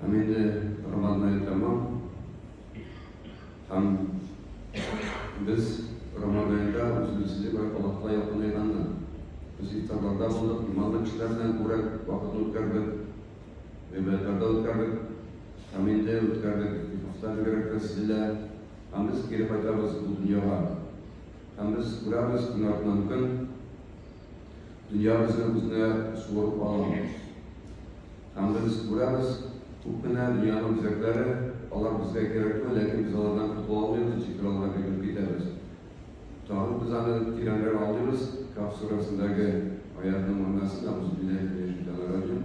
Һәм инде роман әле тәмам. Һәм без роман әлегә үзебезне бер Аллаһка якынайганны. Без ифтарларда булдык, иманлы кешеләр белән күбрәк вакытны үткәрдек, гыйбадәтләрдә үткәрдек. Һәм инде үткәрдек, ифтардан бигрәк тә сез белән. Һәм без кире кайтабыз бу дөньяга. Һәм без күрәбез көн артыннан көн, Дөньябызны үзенә суырып аламыз. Һәм без күрәбез, күп кенә дөньяның үзәкләре, алар безгә кирәкме, ләкин без алардан котыла алмыйбыз, ничек кенә аларга бирелеп китәбез. Тагын без аны тирәнрәк аңлыйбыз, Каһф сүрәсендәге аятның мәгънәсен, Әгузубилляһи минәшшәйтанирраҗим.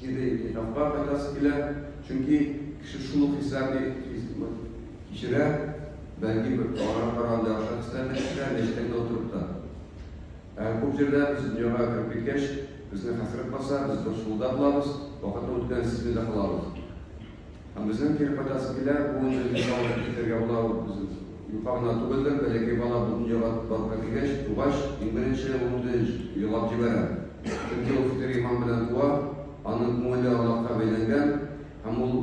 кире интихабка кайтасы килә, чөнки кеше шул ук хисләрне кичерә, бәлки бер кара кара андый охшаш хисләрне кичерә, мәчеттән утырып та. Ә күп җирдә без дөньяга кереп киткәч, безне хәсрәт баса, без борчылуда булабыз, вакытның үткәнен сизми дә калабыз. Һәм безнең кире кайтасы килә, бу инде дөнья алып китәргә була ул без юка гына түгелдер, бәләкәй бала бу дөньяга барлыкка килгәч, тугач, иң беренче ул үзе елап җибәрә, чөнки ул фитер иман белән туа, аның күңеле Аллаһка бәйләнгән, һәм ул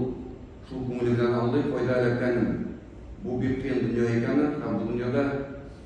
шул күңеле белән аңлый, кайда эләккәнен, бу бик кыен дөнья икәнен һәм бу дөньяда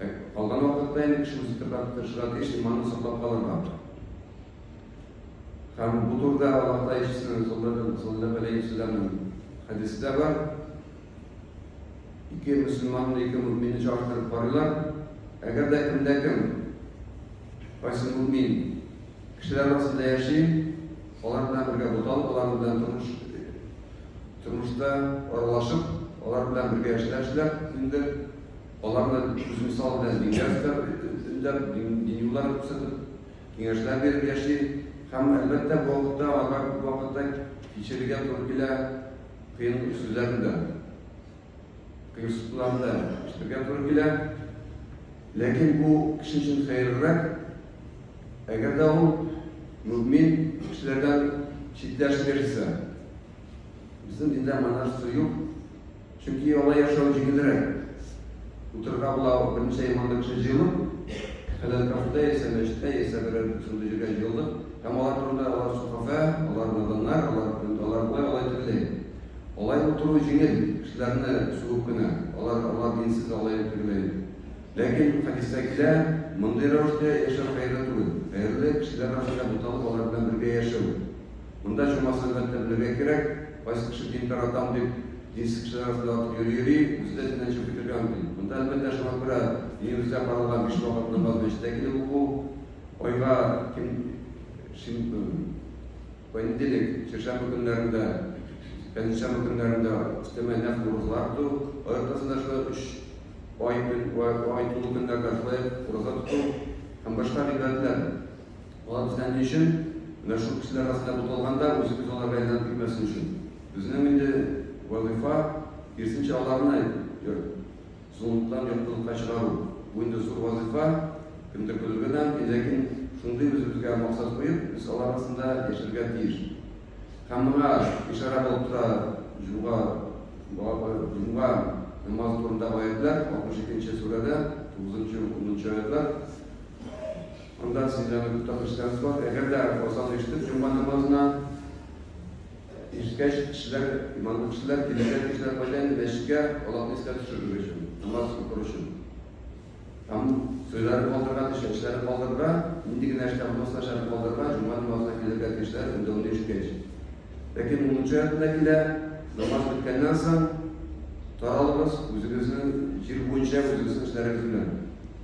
Ә калган вакытта инде кеше үзе тырнап тырышырга тиеш, иманын саклап калырга. Һәм бу турыда Аллаһ Тәгалә ишесен саллаллаһу алейхи ва саллям хәдистә бар. Ике мөселман, ике мөмин чагыштырып карыйлар. Әгәр дә кемдә кем кайсы мөмин кешеләр арасында яши, алар белән бергә буталып, алар белән тормыш тормышта аралашып, алар белән бергә эшләшүләр, инде Аларны үзмисал белән Ильяс та өндәп, дини юллар күрсәтеп, киңәшләр биреп яши. Һәм, әлбәттә, бу вакытта аларга күп вакытта кичерергә туры килә, кыен сүзләрне дә, кыерсытуларны да ишетергә туры килә. Ләкин бу кеше өчен хәерлерәк, әгәр дә ул мөэмин кешеләрдән читләшеп яшисә. Безнең диндә моңа сүз юк. Чөнки яла яшәү җиңелрәк. Утырырга була ул берничә еллардан кеше җыелып, хәләл кафеда яисә мәчеттә, яисә берәр шундый җиргә җыелдык. Һәм алар турында алар сохафә, алар наданнар, алар, алар болай, алай тегеләй. Алай утыру җиңел, кешеләрне сугып кенә. Алар, алар динсез, алай тегеләй. Ләкин хәдистә килә, мондый рәвештә яшәү хәерле түгел. Хәерле, кешеләр арасында буталып, алар белән бергә яшәү. Монда чамасында терлергә кирәк, кайсы кеше дин таратам дип, динсез кешеләр арасында атып йөри-йөри, үзе дә диннән чыгып китәргә мөмкин. Монда, әлбәттә, шуңа күрә динебездә каралган биш вакыт намазны мәчеттә килеп уку, айга ким понедельник, чәршәмбе көннәрендә, пәнҗешәмбе көннәрендә өстәмә нәфл уразалар тоту, ай уртасында шулай өч ай көн, ай тулу көннәрендә шулай ураза тоту һәм башка гыйбадәтләр. Болар бездә ни өчен? Мәшһүр кешеләр астына буталганда, үзебез аларга әйләнеп китмәсен өчен. Безнең инде вазыйфа, киресенчә, аларны әйтеп, золымлыктан яктылыкка чыгару. Бу инде зур вазыйфа, кемдер көлергә дә мөмкин, ләкин шундый үзебезгә максат куеп, без алар арасында яшәргә тиеш. Һәм моңа ишарә булып тора җомга җомга намазы турындагы аятьләр, 62 нче сүрәдә, тугызынчы, унынчы аятьләр. Анда сезнең татарчаларыгыз бар. Әгәр дә азан ишетеп, җомга намазына ирешкәч, кешеләр, иманлы кешеләр, килешкән кешеләр кайда инде мәчеткә Аллаһны искә төшерер өчен, намаз укыр өчен. Һәм туйларын калдырырга, төшенчәләрен калдырырга, нинди генә эштә булмасын, начарын калдырырга, җомга намазына килергә тиешләр, өндәүне ишеткәч. Ләкин унынчы аятында килә, намаз беткәннән соң, таралыгыз, үзегезнең җир буенча, үзегезнең эшләрегез белән.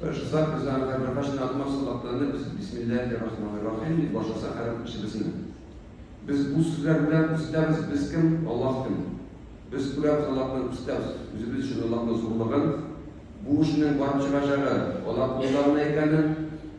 Ышыса кызлар да бер кашны атма сулакланы без бисмилләһи рахмани рахим дип башласак һәр эшебезне. Без бу сүзләр белән күрсәтәбез без кем, Аллаһ кем. Без күрәбез Аллаһны күрсәтәбез үзебез өчен Аллаһның зурлыгын, бу эшнең барып чыгачагы Аллаһ кулында гына икәнен.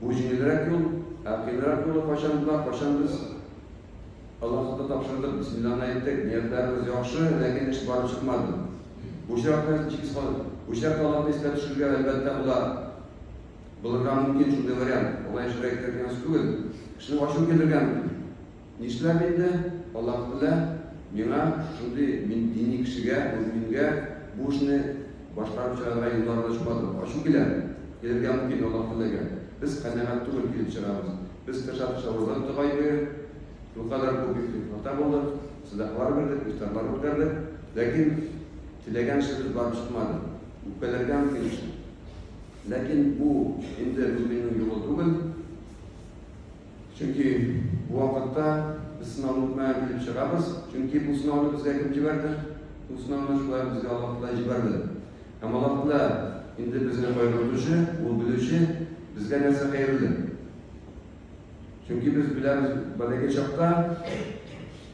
Бу җиңелрәк юл, ә кыенрак юлы кайчан була, кайчан без Аллаһка тапшырдык, бисмилланы әйттек, ниятләребез яхшы, ләкин эш барып чыкмады. Бу очракта җиз калып, бу очракта Аллаһны искә төшерергә, әлбәттә, була. Булырга мөмкин шундый вариант. Алай эшләргә кирәк дигән сүз түгел. Кешенең ачуы килергә мөмкин. Нишләп инде, Аллаһ Тәгалә миңа шундый, мин дини кешегә, мөэмингә бу эшне башкарып чыгарга юллар да ачмады. Ачу килә, килергә мөмкин, Аллаһ Тәгаләгә. Без канәгать түгел, килеп чыгабыз. Без тырыша-тырыша ураза тотып ай буе, шулкадәр күп истигъфарда булдык, сәдакалар бирдек, ифтарлар үткәрдек, ләкин теләгән эшебез барып чыкмады. Үпкәләргә мөмкин шул. Ләкин бу инде мөэминнең юлы түгел. Чөнки бу вакытта без сынауны үтмәгән килеп чыгабыз. Чөнки бу сынауны безгә кем җибәрде? Бу сынауны шулай безгә Аллаһ Тәгалә җибәрде. Һәм Аллаһ Тәгалә инде безне кайгыртучы, ул белүче, безгә нәрсә хәерле. Чөнки без беләбез, бәләкәй чакта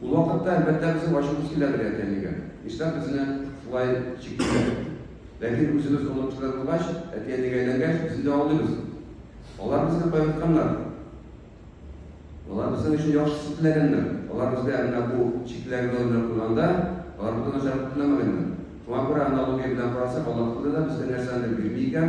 Ул вакытта, әлбәттә, безнең ачуыбыз килә бер әтиәнигә. Нишләп безне шулай чиклиләр дип. Ләкин үзебез онык кешеләр булгач, әтиәнигә әйләнгәч, без инде аңлыйбыз. Алар безне кайгыртканнар. Алар безнең өчен яхшысын теләгәннәр. Алар безгә менә бу чикләвек ялы белән куйганда, алар бөтен начарлыкны теләмәгәннәр. Шуңа күрә аналогия белән карасак, Аллаһ Тәгалә дә безгә нәрсәнедер бирми икән,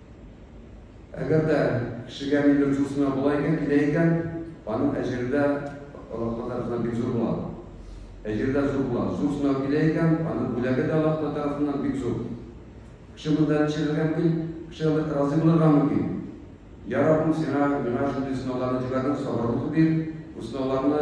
Әгәр дә кешегә нидер зурсына була икән, килә икән, аның әҗере дә Аллаһ тарафыннан бик зур була. Әҗере дә зур була. Зур сынау килә икән, аның бүләге дә Аллаһ тарафыннан бик зур. Кеше монда ничегергә мөмкин? Кеше разый булырга мөмкин. Я Раббым, сиңа миңа шундый сынауларны җибәрдең, сабырлык бир, бу сынауларны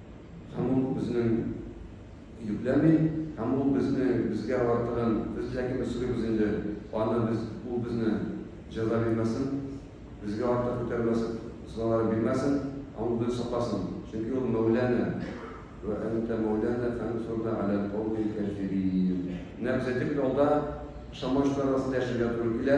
Һәм ул безнең йөкләми, һәм ул безне безгә артыгын без ләкин без сорыйбыз инде, аны без ул безне җәза бирмәсен, безгә артык күтәрмәсен, сынаулар бирмәсен, һәм ул безне сакласын, чөнки ул Мәүлана. Вә әнтә Мәүлана фәнсурна галәл каумил кафирин. Менә без әйтик, ялда ышанмаучылар арасында яшәргә туры килә.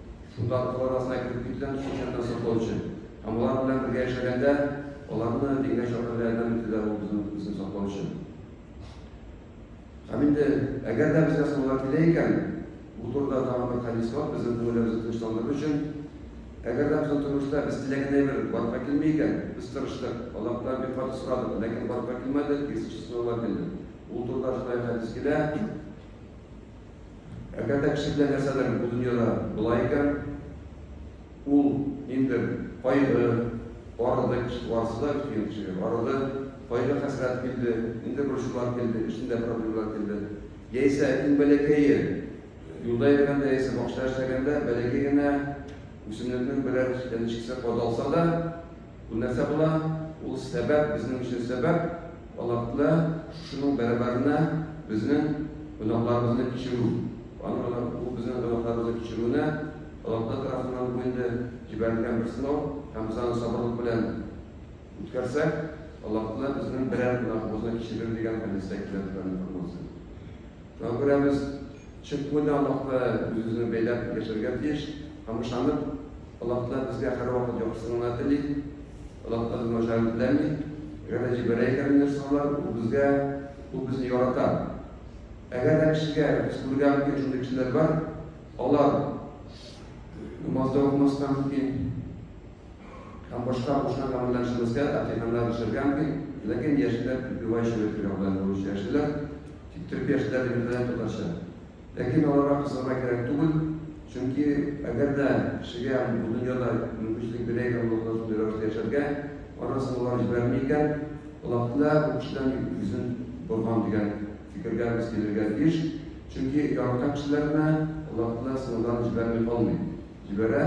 Шунда укулар арасына кереп китүдән шул чакта саклау өчен һәм алар белән бергә яшәгәндә аларны дингә чакыруда ярдәм итүдә ул безнең укучыны саклау өчен. Һәм инде әгәр дә безгә сынауга килә икән, бу турыда тагын бер хәдис бар, безнең күңелебезне тынычландырыр өчен. Әгәр дә безнең тормышта без теләгән әйбер барлыкка килми икән, без тырыштык, Аллаһтан бик каты сорадык, ләкин барлыкка килмәде, киресенчә сынаулар килде. Ул турыда шулай ук хәдис килә. Әгәр дә кеше белән нәрсәдер бу дөньяда була икән, ул инде кайгы, арыды кеше, арыса да килгән кешегә, арыды, кайгы хәсрәт килде, инде борчулар килде, эшендә проблемалар килде. Яисә иң бәләкәе, юлда йөргәндә яисә бакчада эшләгәндә бәләкәй генә үсемлекнең берәр янычкысы кадалса да, Бу нәрсә була? Ул сәбәп, безнең өчен сәбәп, Аллаһны, шушының бәрабәренә безнең гөнаһларыбызны кичерү. Аны гына бу безнең гөнаһларыбызны кичерүне Аллаһы тарафыннан бу инде җибәрелгән бер сынау, һәм без аны сабырлык белән үткәрсәк, Аллаһы безнең берәр гөнаһыбызны кичерер дигән хәдистә килә торган информация. Шуңа күрә без чынкүлдә Аллаһка үзебезне бәйләп яшәргә тиеш һәм ышанып, Аллаһтан безгә һәрвакыт яхшысын гына тели. Аллаһтан безнең начарын теләми. Әгәр дә җибәрә икән мине шулар, ул безгә, ул безне ярата. Әгәр дә кешегә, без күрергә мөмкин шундый кешеләр бар, алар намазда укымаска мөмкин, һәм башка кушкан гамәлләр эшләмәскә, әкыйганнар эшләргә мөмкин, ләкин яшьләр бивай чәбәтергә белән булучы яшьләр, тик төрки яшьләр дигәндә татарча. Ләкин аларга кызарга кирәк түгел, чөнки әгәр дә кешегә бу дөньяда мөмкинчелек бирә икән Аллаһы Тәгалә шундый рәвештә яшәргә, аннан соң алар җибәрми икән, Аллаһы Тәгалә бу кешедән йөзен борган дигән фикергә без килергә тиеш, чөнки яраткан кешеләренә Аллаһы Тәгалә сынауларын җибәрми калмый, җибәрә.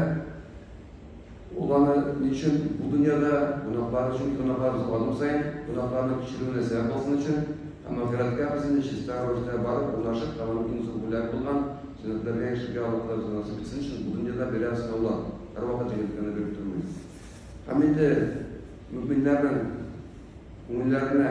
Ул аны ни өчен бу дөньяда, гөнаһлар өчен, гөнаһларыбыз адым саен гөнаһларның кичерүенә сәбәп булсын өчен һәм ахирәткә безне чиста рәвештә барып урнашып һәм аның иң зур бүләге булган җәннәтләргә яшәргә Аллаһ Тәгалә безгә насыйп итсен өчен бу дөньяда бирә сынаулар, һәрвакыт җиңеллекләрне биреп тормый. Һәм инде мөэминнәрнең күңелләренә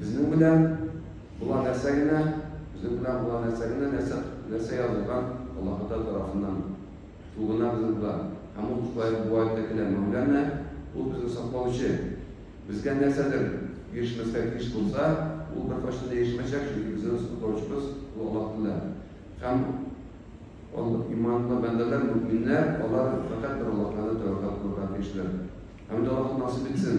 Безнең белән була нәрсә генә, безнең белән була нәрсә генә, нәрсә, нәрсә язылган Аллаһыта тарафыннан. Ул гына безнең була. Һәм ул шулай бу аятта килә. Мәүләнә, ул безне саклаучы. Безгә нәрсәдер ирешмәскә тиеш булса, ул беркайчан да ирешмәячәк, чөнки безнең саклаучыбыз ул Аллаһ Тәгалә. Һәм ал, иманлы бәндәләр, мөэминнәр, алар фәкать бер Аллаһ Тәгаләне тәвәккәл кылырга тиешләр. Һәм инде Аллаһ насыйп итсен.